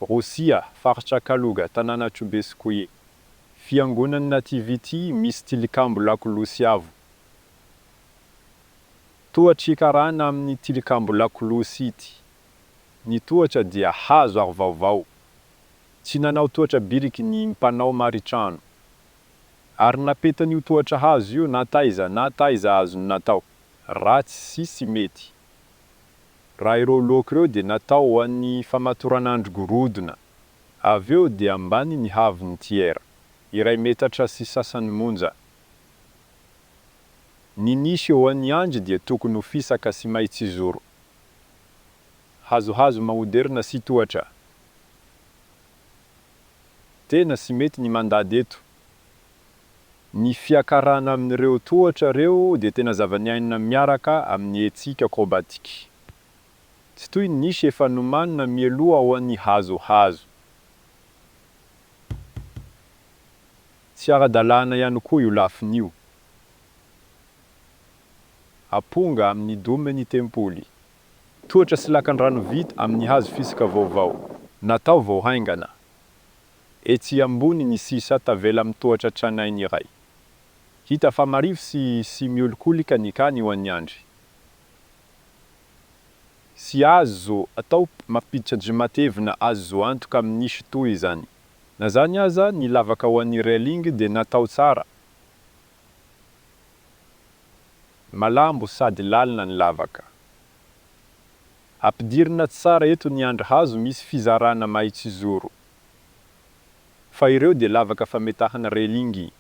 Rosia, faritra Kaluga, tanàna Chubetskoye. Fiangonan'ny Nativity misy tilikambo lakolosy avo. Tohatr' i karana amin' ny tilikambo lakolosy ity. Ny tohatra dia hazo ary vaovao. Tsy nanao tohatra biriky ny mpanao maritrano. Ary napetan' io tohatra hazo io na taiza na taiza azony natao, ratsy sy tsy mety. Raha ireo loka ireo dia natao ho an'ny famatoranandro gorodona. Avy eo dia ambany ny haavon'ny tiers, iray metatra sy sasany monja. Ny nisy eo an'ny andry dia tokony ho fisaka sy mahitsizoro. Hazohazo maoderina sy tohatra. Tena sy mety ny mandady eto. Ny fiakarana amin'ireo tohatra ireo dia tena zava-niainina miaraka amin'ny hetsika acrobatique. Tsy toy ny nisy efa nomanina mialoha ao an'ny hazohazo. Tsy ara-dalàna ihany koa io lafiny io. Aponga amin'ny dome ny tempoly. Tohatra sy lakandrano vita amin'ny hazo fisaka vaovao. Natao vao haingana. Etsy ambony ny sisa tavela mitohatra tranainy iray. Hita fa marivo sy sy miolikolika ny kany ho an'i Andry. Tsy azo atao mampiditra andrimatevina azo antoka amin'isy toa izany. Na zany aza, ny lavaka ho an'i Railing dia natao tsara. Malambo sady lalina ny lavaka. Ampidirina tsara eto ny andry hazo misy fizarana mahitsizoro. Fa ireo dia lavaka fametahana relingy.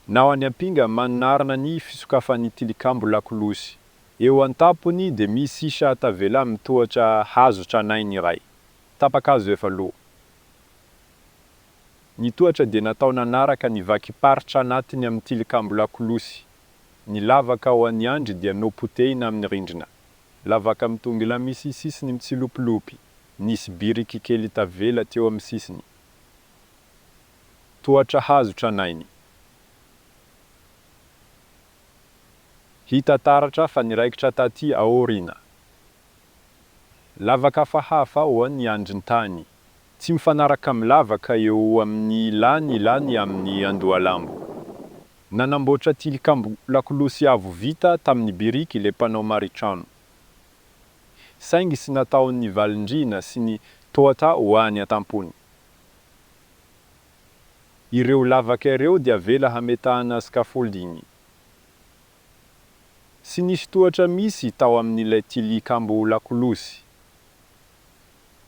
Na ho any Ampinga manarina ny fisokafan'ny tilikambo lakolosy. Eo an-tampony dia misy chat tavela mitohatra hazo tranainy iray. Tapa-kazo efa lo. Ny tohatra dia natao nanaraka ny vakim-paritra anatiny amin'ny tilikambo lakolosy. Ny lavaka ao an'ny andry dia nopotehina amin'ny rindrina. Lavaka mitongilana misy sisiny mitsilopilopy, nisy biriky kely tavela teo amin'ny sisiny. Tohatra hazo tranainy. Hita taratra fa niraikitra taty aoriana. Lavaka hafahafa ao ny andrin-tany. Tsy mifanaraka amin'ny lavaka eo amin'ny ilany ilany amin'ny andohalambo. Nanamboatra tilikambo lakolosy avo vita tamin'ny biriky ilay mpanao maritrano. Saingy tsy nataon'ny valindrihina sy ny tohata ho any an-tampony. Ireo lavaka ireo dia avela hametahana scaffolding. Tsy nisy tohatra misy tao amin'ilay tilikambo lakolosy.